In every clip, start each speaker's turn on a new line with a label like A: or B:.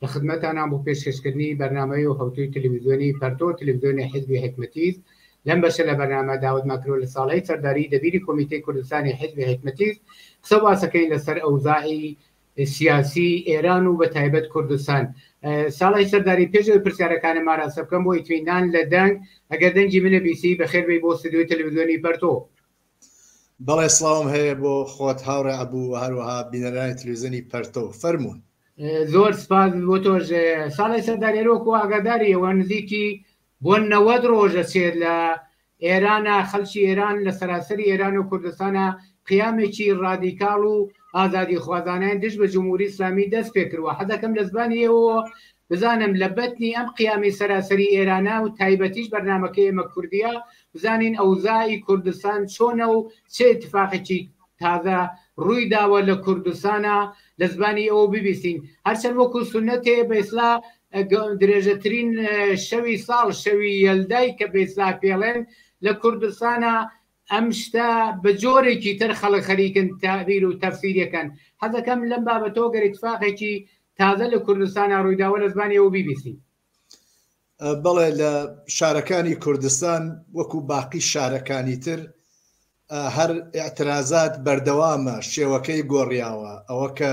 A: لە خدمەتانام بۆ پێشکەشکردنی بەرنامەی و هەوتووی تلویزیۆنی پەرتۆ و تلویزیۆنی حیزبی حیکمەتیز لەم بەشە لە بەرنامە داوەت ماکرۆ لە ساڵەی سەرداری دەبیری کۆمیتەی کوردستانی حیزبی حیکمەتیز قسە و باسەکەین لە سەر ئەوزاعی سیاسی ئێران و بە تایبەت کوردستان ساڵی سەرداری پێشەوەی پرسیارەکانم ماراسە بکەم بۆ ئیتوینان لە دەنگ ئەگەر دەنگی منە بیسی بەخێربی بۆ ستدیۆی تەلەڤزیۆنی پەرتۆ
B: بەڵێ سڵاوم هەیە بۆ خۆت هاوڕێ عبوو و هەروەها بینەرانی تلویزیۆنی پەرتۆ فەرمونون زۆر
A: سپاس بۆ تۆش ساڵی سەردارێرۆکو ئاگاداری ئەوە نزیکی بۆ نەوەد ڕۆژە چێت لە ئێرانە خەلکی ئێران لە سەراسەری ئێران و کوردستانە قیامێکی ڕادیکاڵ و ئازادی خوازانیان دژ بە جمهوری ئسلامی دەست پێکردوە حەدەکەم لە زبانیەوە بزانم لە بەتنی ئەم قیامی سەراسەری ئێرانە و تایبەتیش بەرنامەکەی ئێمە کوردییە بزانین ئەوزاء ی کوردستان چۆنە و چ ئیتفاقێکی تازە ڕووی داوە لە کوردستانا لە زبانی ئەوە ببیستین هەرچەند وەکو سونەتێ بە ئیسلا درێژەترین شەوی ساڵ شەوی یەلدای کە بە ئیسلا پێڵێن لە کوردستانا ئەم شتە بە جۆرێکی تر خەڵک خەریکن تەعبیر و تەفسیری ئەکەن. حەزەکەم لەم بابەتەوە گەر ئیتفاقێکی تازە لە کوردستانا ڕوویداوە لە زمانی ئەو بیبیسین.
B: بەڵێ لە شارەکانی کوردستان وەکو باقی شارەکانی تر هەر ئیعترازات بەردەوامە شێوەکەی گۆڕیاوە ئەوە کە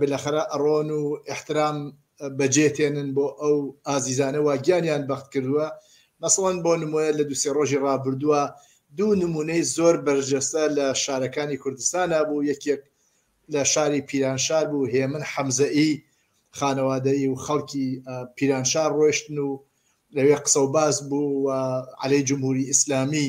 B: بلەخەرە ئەڕۆن و ئیحترام بەجێ تێنن بۆ ئەو ئازیزانە وا گیانیان بەخت کردووە مەسڵەن بۆ نمۆە لە دوو سێ ڕۆژی ڕابردووە دوو نمونەی زۆر بەرجەستە لە شارەکانی کوردستانا بوو یەکێک لە شاری پیرانشار بوو هێمن حەمزە ئی خانەوادەیی و خەڵکی پیرانشار ڕۆشتن و لەوێ قسە و باس بوو و عەلەی جمهوری ئیسلامی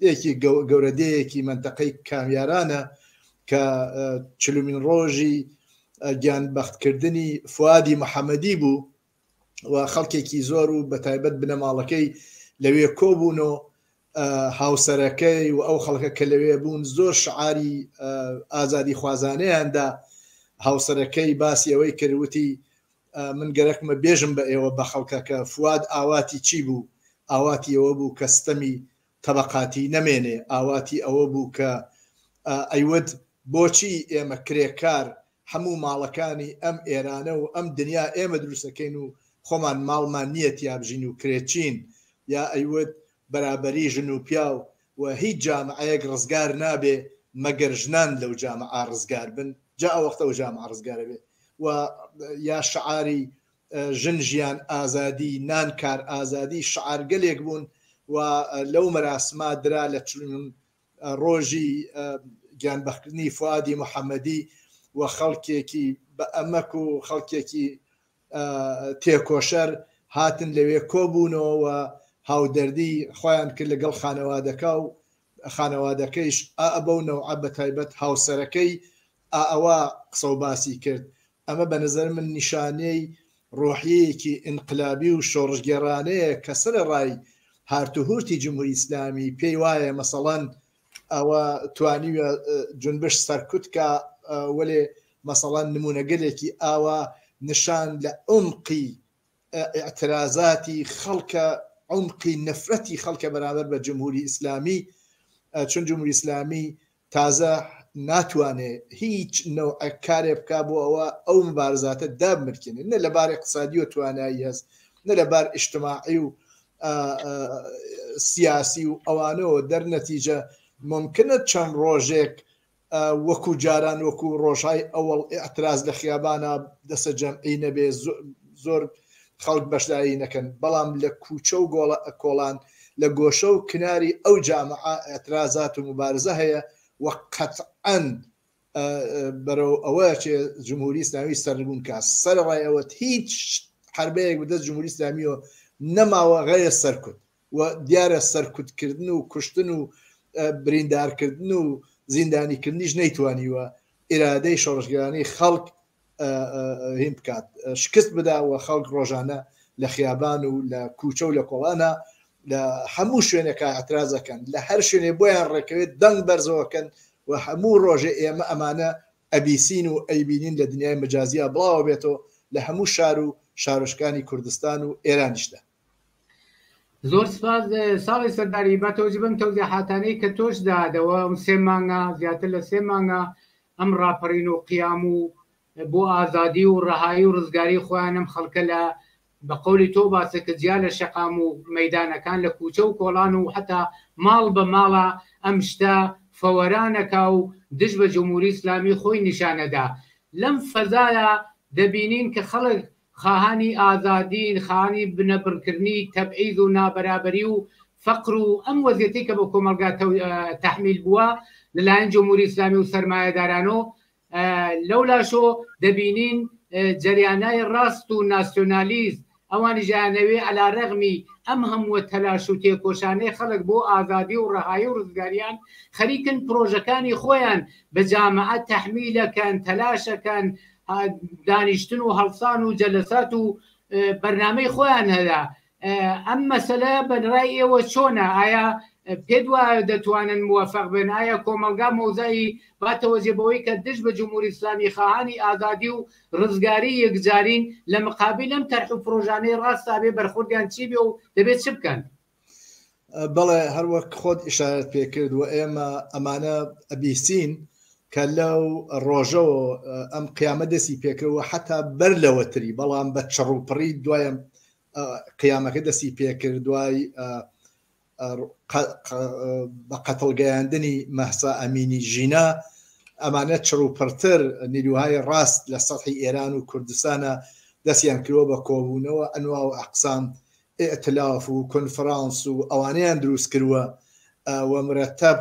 B: دێکی گەورە دێیەکی مەنتەقەی کامیارانە کە چلومین ڕۆژی گیان بەختکردنی فوادی محەممەدی بوو و خەڵکێکی زۆر و بە تایبەت بنەماڵەکەی لەوێ کۆبوون و هاوسەرەکەی و ئەو خەڵکە کە لەوێ بوون زۆر شعاری ئازادی خوازانەیاندا هاوسەرەکەی باسی ئەوەی کردوتی من گەرەکمە بێژم بە ئێوە بە خەڵکە کە فواد ئاواتی چی بوو ئاواتی ئەوە بوو کە ستەمی تەبەقاتی نەمێنێ ئاواتی ئەوە بوو کە ئەیوت بۆچی ئێمە کرێکار هەموو ماڵەکانی ئەم ئێرانە و ئەم دنیا ئێمە دروستەکەین و خۆمان ماڵمان نییە تیابژین و کرێچین یا ئەیوت بەرابەری ژن و پیاو و هیچ جامعەیەک ڕزگار نابێ مەگەر ژنان لەو جامعە ڕزگار بن جا ئەوەختە ئەو جامعە ڕزگار ئەبێ و یا شعاری ژن ژیان ئازادی نان کار ئازادی شعارگەلێک بوون و لەو مەراسما درا لە چلون ڕۆژی گیانبەخکردنی فوادی محەمەدی و خەڵکێکی بە ئەمەک و خەڵکێکی تێکۆشەر هاتن لەوێ کۆبوونەوە و هاودەردی خۆیان کرد لەگەڵ خانەوادەکە و خانەوادەکەیش ئا بەو نەوعە بەتایبەت هاوسەرەکەی ئا ئەوە قسە و باسی کرد ئەمە بە نەزەر من نیشانەی ڕۆحیەیەکی ئینقلابی و شۆڕشگێڕانەیە کە سەرەڕای هارت و هورتی جمهوری ئیسلامی پێی وایە مەسەڵەن ئەوە توانیوە جونبش سەرکوت کا وەلێ مەسەڵەن نمونەگەلێکی ئاوا نشان لە عومقی ئیعترازاتی خەڵکە عومقی نەفرەتی خەڵکە بەرامبەر بە جمهوری ئیسلامی چون جمهوری ئیسلامی تازە ناتوانێ هیچ نەوع کارێ بک بۆ ئەوە ئەو مبارزاتە دابمرکێنێت نە لەبار اقتصادی و توانایی هەست نە لەبار ئیشتماعی و سیاسی و ئەوانەوە دەر نەتیجە ممکنە چەند ڕۆژێک وەکو جاران وەکو ڕۆژای ئەوەڵ ئاعتراز لە خیابانە دەسە جەمعی نەبێ زۆر خەڵک بەشداری نەکەن بەڵام لە کوچە و گۆڵە ئەکۆڵان لە گۆشە و کناری ئەو جامعە ئاعترازات و مبارزە هەیە وە قەتعەن بەرەو ئەوە چێ جمهوری ئسلامی سەربوون کا سەرڕای ئەوە هیچ حربەیەک بدە جمهوری ئسلامیەوە نەماوە غەیە سەرکوت و دیارە سەرکوتکردن و کوشتن و بریندارکردن و زیندانیکردنیش نەیتوانیوە ئێرادەی شۆڕشگرانی خەڵک هین بکات شکست بدا و خەڵک ڕۆژانە لە خیابان و لە کوچە و لە کۆڵانە لە هەموو شوێنێکە ئەترازەکەن لە هەر شوێنێ بۆیان ڕێکەوێت دەنگ بەرزەوەکەن و هەموو ڕۆژێ ئێمە ئەمانە ئەبیسین و ئەیبینین لە دنیای مەجازیا بڵاوە بێتەوە لە هەموو شار و شارۆچکانی کوردستان و ئێرانیشدا
A: زۆر سپاس ساڵی سەرداری با تۆزی بم تەوزیحاتانەی کە تۆش دادەوە ئەم سێ مانگە زیاتر لە سێ مانگە ئەم ڕاپەڕین و قیام و بۆ ئازادی و ڕەهایی و ڕزگاری خۆیان ئەم خەڵکە لە بە قولی تۆ باسە کە جیا لە شەقام و مەدانەکان لە کوچە و کۆڵان و حتا ماڵ بە ماڵە ئەم شتە فەوەرانەکا و دژ بە جمهوری ئیسلامی خۆی نیشانەدا لەم فەزایە دەبینین کە خەڵک خاهانی ئازادین، خاهانی بنەبڕکردنی تەبعیز و نابەرابەری و فەقر و ئەم وەزیەتەی کە بە کۆمەڵگا تەحمیل بووە لە لایەن جمهوری ئیسلامی و سەرمایەدارانۆ، لەو لاشۆ دەبینین جەریانای ڕاست و ناسیۆنالیست ئەوانیش ئەیانەوێ عەلارەغمی ئەم هەمووە تەلاش و تێکۆشانەی خەڵک بۆ ئازادی و ڕەهایی و ڕزگاریان خەریکن پرۆژەکانی خۆیان بە جامعە تەحمیل ئەکەن، تەلاش ئەکەن، دانیشتن و هەڵسان و جەلەسات و بەرنمەی خۆیان هەیە ئەم مەسەلە بەرای ئێوە چۆنە ئایا پێت وایە دەتوانن موفق بن ئایا کۆمەلگا مۆزایی باتەوەزیێ بەوەی کە دژ بە جمهوری ئسلامی خەهانی ئازادی و ڕزگاری یەکجارین لە مقابل لەم تەرح و پرۆژانەی ڕاستابێ بەرخوردیان چی بێ و دەبێت چ بکەن
B: بەڵێ هەروەک خۆت ئشارەت پێکرد و ئێمە ئەمانە ئەبیسین کە لەو ڕۆژەوە ئەم قیامە دەستی پێکەوە حتا بەر لەوەتری بەڵام بە چڕوپڕی دوایم قیامەکە دەستی پێکرد دوای بە قەتڵگەیاندنی مەسا ئەمینی ژینا ئەمانە چڕ و پڕتر نیروهای ڕاست لە سەحی ئێران و کوردستانە دەستیان کرۆ بە کۆبوونەوە ئەنوا و ئەقسام ئیئتلاف و کونفرانس و ئەوانەیان دروست کروە و مرەتەب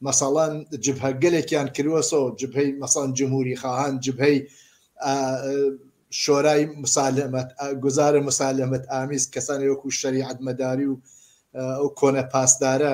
B: مەسەڵەن جبهە گەلێکیان کروە سۆ جبهەی مەسەڵەن جمهوری خاهان جبهەی شۆرای مسالەمەت گوزارە مسالەمەت ئامیز کەسانی وەکو شەریعەت مەداری و ئەو کۆنە پاسدارە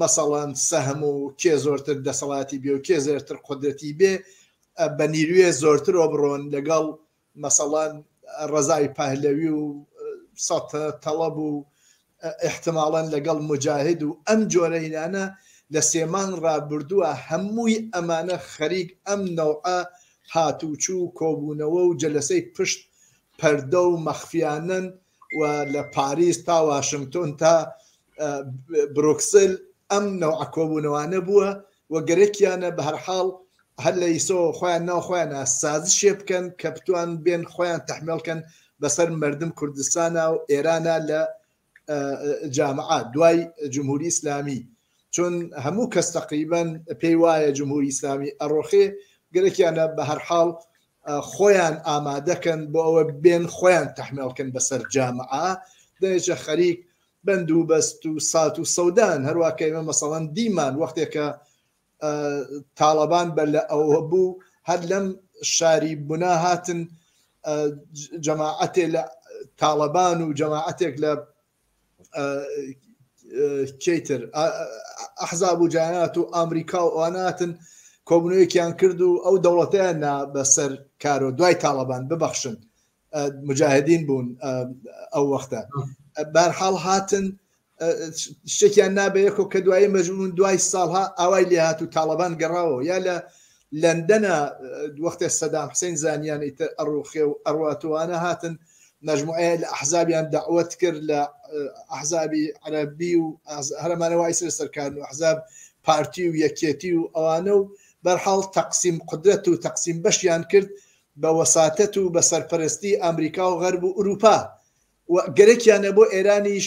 B: مەسەڵەن سەهم و کێ زۆرتر دەسەڵاتی بێ و کێ زێرتر قودرەتی بێ بە نیروێ زۆرتر ئۆبڕۆن لەگەڵ مەسەڵەن ڕەزای پەهلەوی و سەتە تەڵەب و ئحتماڵەن لەگەڵ موجاهد و ئەم جۆرەینانە لە سێمانگ ڕابردووە هەمووی ئەمانە خەریک ئەم نەوعە هاتوچوو کۆبوونەوە و جەلەسەی پشت پەردە و مەخفیانەن و لە پاریس تا واشنگتۆن تا برۆکسل ئەم نەوعە کۆبوونەوانە بووە و گەرەکیانە بە هەرحاڵ هەر لە ئیسەوە خۆیان ناو خۆیانە سازشێ بکەن کە بتوان بێن خۆیان تحمێڵکەن بەسەر مردم کوردستانە و ئێرانە لە جامعات دوای جمهوری ئسلامی چون هەموو کەس تەقریبەن پێی وایە جمهوری ئیسلامی ئەڕۆخێ گەلێکیانە بە هەر حاڵ خۆیان ئامادەکەن بۆ ئەوە بێن خۆیان تەحمێڵکەن بەسەر جامعە دەێچە خەریک بەند و بەست و سات و سەودان هەروواکە ئێمە مەسەڵەن دیمان وەختێکە تاڵەبان بەر لە ئەوە بوو هەر لەم شاری بنا هاتن جەماعەتێ لە تاڵەبان و جەماعەتێک لە چیتر ئەحزاب و جانات و ئامریکا و ئەواناتن کۆبنەوەیەکیان کرد و ئەو دەوڵەتیان نا بەسەر کارۆ دوای تاڵەبان ببەخشن مجاهدین بوون ئەو وەختە بارحاڵ هاتن شتێکیان نابێکۆ کە دوایی مەژون دوای ساڵها ئاوای لێهات و تاڵەبان گەڕاوە یا لە لەندەنە وەختێ سەدام حسین زانیانەی تر ئەڕوخێ و ئەڕاتوانە هاتن مەجموعەیە لە ئەحزابیان داوت کرد لە ئەحزابی عەربی و هەرمانە وای سر سەرکارن و حزاب پارتی و یەکێتی و ئەوانە و بەرحاڵ تەقسیم قدرەت و تەقسیم بەشیان کرد بە وەساتەت و بە سەرپەرستی ئەمریکا و غەرب و ئوروپا و گەرەکیانە بۆ ئێرانیش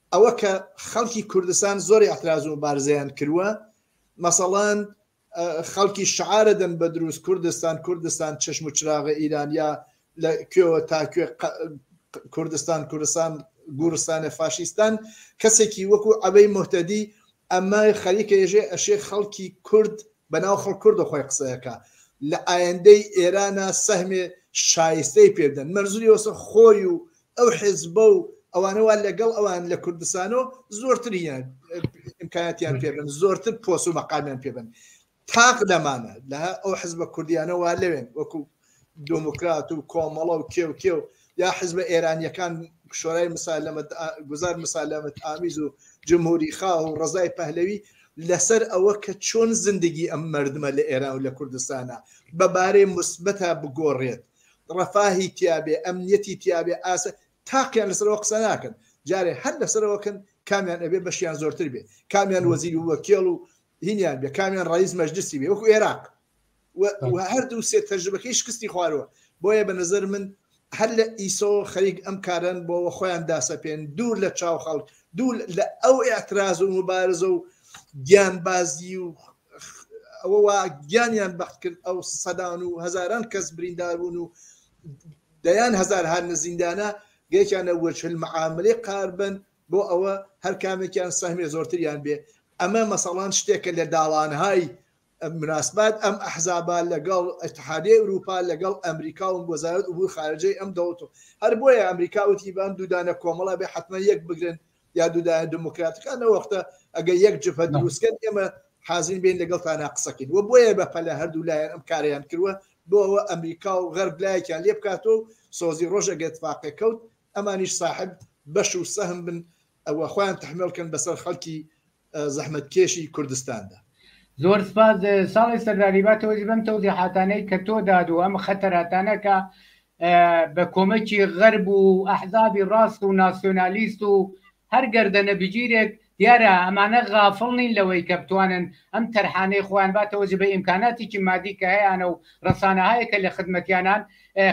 B: ئەوە کە خەڵکی کوردستان زۆر ئەتراز و بارزیان کرووە مەسەڵان خەڵکی شعارە دەن بە دروست کوردستان کوردستان چشم و چراغە ئیرانیا لە کوێوە تاکوێ کوردستان کوردستان گورستانە فاشیستان کەسێکی وەکو ئەبەی مهتەدی ئەمە خەریکە یەژێ ئەشێ خەڵکی کورد بەناو خەڵک کوردە خۆی قسە ئەکا لە ئایندەی ئێرانە سەهمێ شایستەی پێ بدەن مەرزوری وەسە خۆی و ئەو حێزبە و ئەوانە وا لەگەڵ ئەوان لە کوردستانۆ زۆرتریان ئیمکاناتیان پێ بن زۆرتر پۆس و مەقامیان پێ بن تاق لەمانە لە ئەو حزبە کوردیانە وا لەوێن وەکو دۆموکرات و کۆمەڵە و کێو کێو یا حزبە ئێرانیەکان شۆرای مسالەمەت گوزار مسالەمەت ئامیز و جمهوری خا و ڕزای پەهلەوی لەسەر ئەوە کە چۆن زندگی ئەم مردمە لە ئێران و لە کوردستانە بەبارەی مثبتە بگۆڕێت ڕەفاهی تیاابێ ئەمنیەتی تیاابێ ئاسە تاقییان لەسەرەوە قسە ناکەن جارێ هەر لەسەرەوەکەن کامیان ئەبێ بەشیان زۆرتر بێ کامیان وەزیری وەکێڵ و هینیان بێ کامیان ڕیز مەجلسی بێ وەکو عێراق هەردوو سێ تەرجمەکەی شکستی خوارەوە بۆیە بە نظر من هەر لە ئیسۆ خەریک ئەم کارن بۆەوە خۆیان داسەپێن دوور لە چاو خەڵک دوو لە ئەو ئاعتراز و مبارزە و گیان بازی و ئەوە وا گیانیان بەخت کرد ئەو سەدان و هزاران کەس برینداربوون و دەیان هزار هەر نزیندانە گەیتیانە وەچل معاملەی قاربن بۆ ئەوە هەر کامێکیان سەهمی زۆرتریان بێ ئەمە مەسەڵان شتێکە لە داوانهای مناسبات ئەم ئەحزابا لەگەڵ ئەتحادی ئەوروپا لەگەڵ ئەمریکا و وەزارت ئوبوو خارجەی ئەم دەوڵەت و هەر بۆیە ئەمریکا وتی بان دوودانە کۆمەڵا بێ حتممە یەک بگرن یا دوودایە دموکراتەکان لەوەختە ئەگە یەک جبهە دروستکەن ئێمە حازین بین لەگەڵ تانا قسەکەین وە بۆیە بە پەلە هەردوو لایەن ئەم کاریان کردوە بۆەوە ئەمریکا و غەرب لایەکیان لێ بکاتەوە سۆزی ڕۆژ ئەگەر تفاقێ کەوت ئەمانیش ساحب بەش و سەهم بن و خۆیان تەحمێڵ کەن بەسەر خەڵکی زەحمەتکێشی کوردستاندا. زۆر سپاس
A: ساڵح سەرداری با تۆش بەم تەوزیحاتانەی کە تۆ داد و ئەم خەتەراتانە کە بە کۆمەکی غەرب و ئەحزابی ڕاست و ناسیۆنالیست و هەر گەردەنە بگیرێک دیارە ئەمانە غافڵ نین لەوەی کە بتوانن ئەم تەرحانەی خۆیان باتەوە جبە ئیمکاناتیکی مادی کە هەیانە و رەسانەهایەک کە لە خدمەتیانان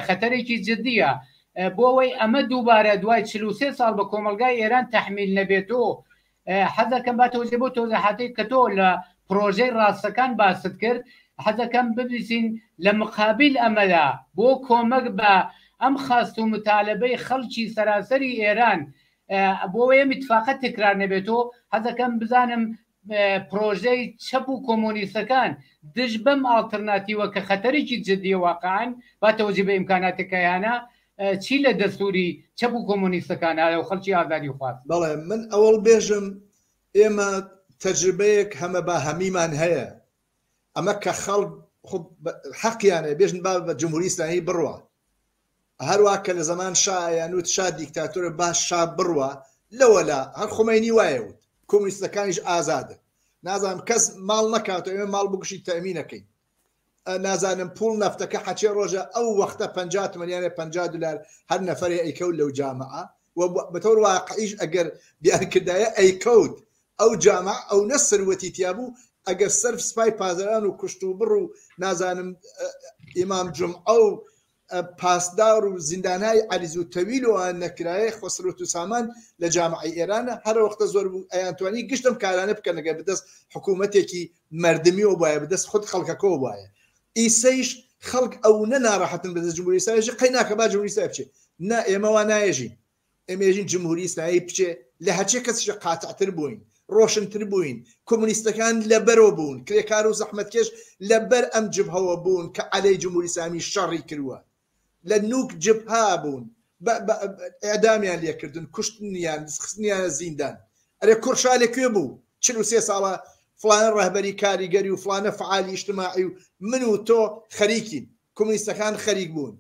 A: خەتەرێکی جدیە بۆ ئەوەی ئەمە دووبارە دوای چل و سێ ساڵ بە کۆمەڵگای ئێران تەحمیل نەبێت و حەزەکەم باتەوە جێ بۆ تۆزەحاتەی کە تۆ لە پرۆژەی راستەکان باست کرد حەزەکەم ببیسین لە مقابل ئەمەدا بۆ کۆمەک بە ئەم خاست و متالبەی خەڵکی سەراسەری ئێران بۆوەیە میتفاقە تکرار نەبێتۆ حەزەکەم بزانم پرۆژەی چەپ و کۆمۆنیستەکان دژ بەم ئاڵترناتیوە کە خەتەرێکی جددیە واقعان با تەوەجی بە ئیمکاناتەکەیانە چی لە دەستوری چەپ و کۆمۆنیستەکان ئایا و خەڵکی ئازادی خواست بەڵێ من ئەوەڵ
B: بێژم ئێمە تەجربەیەک هەمە با هەمیمان هەیە ئەمە کە خەڵ حەقیانە بێژن با بە جمهوری ئیسلامی بڕوە هەروا کە لە زەمان شا ئەیان وت شا دیکتاتۆرە با شا بڕوا لەوەلا هەر خومەینی وایە وت. کۆمونیستەکانیش ئازادن نازانم کەس ماڵ نەکاتەوە ئێمە ماڵ بکوشی تەمینەکەین نازانم پوڵ نەفتەکە حەچێ ڕۆژە ئەو وەختە پ تمەنیانە پ دلار هەر نەفرێ ئەیکەوت لەو جامعە بەتەور واقعیش ئەگەر بیانکردایە ئەیکەوت ئەو جامع ئەو نە سروەتی تیابوو ئەگەر سەرف سپای پازران و کوشت و بڕ و نازانم ئیمام جمعە و پاسدار و زیندانای عەریز و تەویل و ئان نەکرایەی خەسرەت و سامان لە جامعەی ئێرانە هەرەوەختە زۆر بوو ئەیانتوانی گشت ئەم کارانە بکەن گەر بەدەست حکوومەتێکی مەردمیەوە بایە بەدەست خود خەڵکەکەەوە بایە ئیسەیش خەڵک ئەو نە ناڕەحەتن بەدەست جمهوری سایژ قەی ناکە با جمهوری سای بچێت نا ئێمەوان نایژین ئێمێژین جمهوری ئیسلامی بچێ لە هەرچێ کەسیشە قاتعتر بووین ڕۆشنتر بووین کۆمونیستەکان لەبەرەوە بوون کرێکار و زەحمەتکێش لەبەر ئەم جبهەوە بوون کە عەلەی جمهوری ئیسلامی شەڕی کردووە لە نوک جبها بوون ئەدامیان لێکردن کوشتنیان خستنیانە زیندان ئەرێ کورشا لە کوێ بوو چ و سێ ساڵە فلانە ڕەهبەری کاریگەری و فلانە فعالی ئیشتماعی و من و تۆ خەریکین کۆمونیستەکان خەریک بوون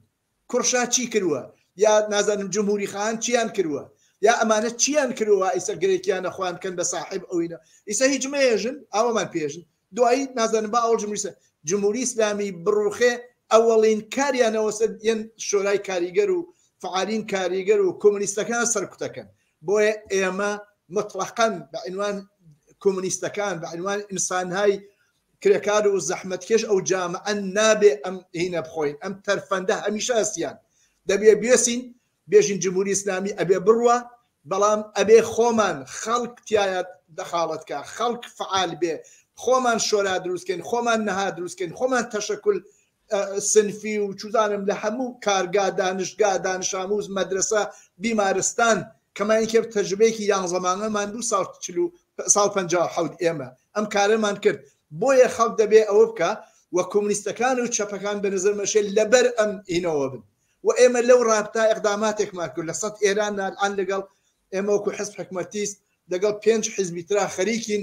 B: کوڕ شا چی کروە یا نازانم جمهوری خان چیان کروە یا ئەمانە چیان کروە ئیسە گرێکیانە خوان کەن بە ساحێب ئەوینە ئیسە هیچ مەیەژن ئاوەمان پێژن دوایی نازانم با ئەوڵ جمهوریسە جمهوری ئیسلامی بڕوخێ ئەوەڵین کاریانەوە سەر یەن شۆرای کاریگەر و فعالین کاریگەر و کۆمونیستەکان سەرکوتەکەن بۆیە ئێمە مطلقا بە عنوان کۆمونیستەکان بە عنوان ئینسانهای کرێکار و زەحمەتکێش ئەو جامەن نابێ ئەم هینە بخۆین ئەم تەرفەندە هەمیشە هەستیان دەبێ بێسین بێژین جمهوری ئیسلامی ئەبێ بڕوا بەڵام ئەبێ خۆمان خەڵک تایە دەخاڵەتکە خەڵک فعال بێ خۆمان شۆرا دروستکەین خۆمان نەها دروستکەین خۆمان تەشەکل سنفی و چوزانم لە هەموو کارگا دانشگا دانشاموز مەدرەسە بیمارستان کەماین کرد تەجروبەیەکی یانزە مانگەمان بوو ساڵ چل و ساڵ پەنجا و حەوت ئێمە ئەم کارەمان کرد بۆیە خەڵک دەبێ ئەوە بکا و کۆمونیستەکان و چەپەکان بە نەزەر مەشێ لەبەر ئەم هینەوە بن و ئێمە لەو ڕابتا ئەقداماتێکمان کرد لە سەد ئێران نالعان لەگەڵ ئێمە وەکو حزب حکومەتیست لەگەڵ پێنج حزبی ترا خەریکین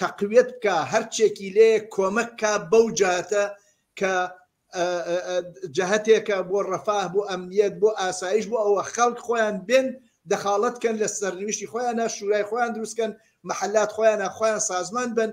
B: تەقویەت بکا هەرچێکی لێ کۆمەک کا بەو جاتە کە جەهتێکە بۆ ڕەفاه بۆ ئەمنیەت بۆ ئاسایش بۆ ئەوە خەڵک خۆیان بێن دەخاڵەت کەن لە سەرنویشتی خۆیان شورای خۆیان دروستکەن محلات خۆیان خۆیان سازمان بن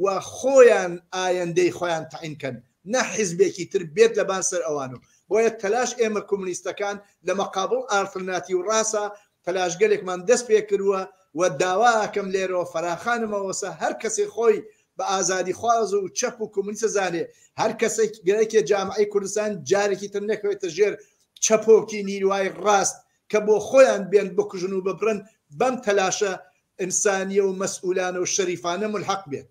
B: و خۆیان ئایندەی خۆیان تعین کەن نە حیزبێکی تر بێت لەبان سەر ئەوان و بۆیە تەلاش ئێمە کۆمونیستەکان لە مەقابل ئارترناتی و ڕاستە تەلاشگەلێکمان دەستپێکردووە و داوا ئەکەم لێرەوە فەراخانمەوەسە هەر کەسێ خۆی بە ئازادیخواز و چەپ و کۆمونیست ئەزانێ، هەر کەسێکێ جامعەی کوردستان جارێکی تر نەکەوێتە ژێر چەپۆکی نیروای ڕاست کە بۆ خۆیان بێن بکوژن و ببرن، بەم تەلاشە ئینسانیە و مەسئولانە و شەریفانە مولحەق بێت.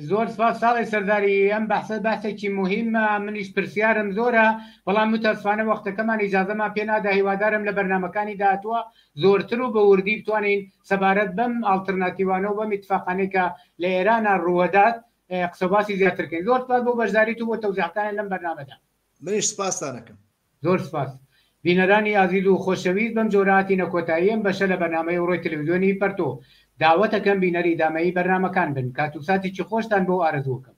B: زۆر
A: سپاس ساڵی سەرداری ئەم بەحسە باسێکی مهمە منیش پرسیارم زۆرە بەڵام متەسفانە وەختەکەمان ئیجازەمان پێ نادا هیوادارم لە بەرنمەکانی داهتووە زۆرتر و بە وردی بتوانین سەبارەت بەم ئاڵترناتیوانە و بەم اتفاقانەی کە لە ئێرانە ڕووەدات قسە باسی زیاترکەین زۆر سپاس بۆ بەشداریت و بۆ تەوزیحەکانت لەم بەرنامەدا. منیش سپاستان
B: ئەکەم. زۆر سپاس
A: بینەرانی ئازیز و خۆشەویست بەم جۆرە هاتینە کۆتایی ئەم بەشە لە بەرنامەی ئەوڕۆی تەلەفزیۆنی پەرتۆ داوەتەکەم بینەری ئیدامەیی بەرنامەکان بن کات و ساتێکی خۆشتان بۆ ئارەزوو ئەکەم.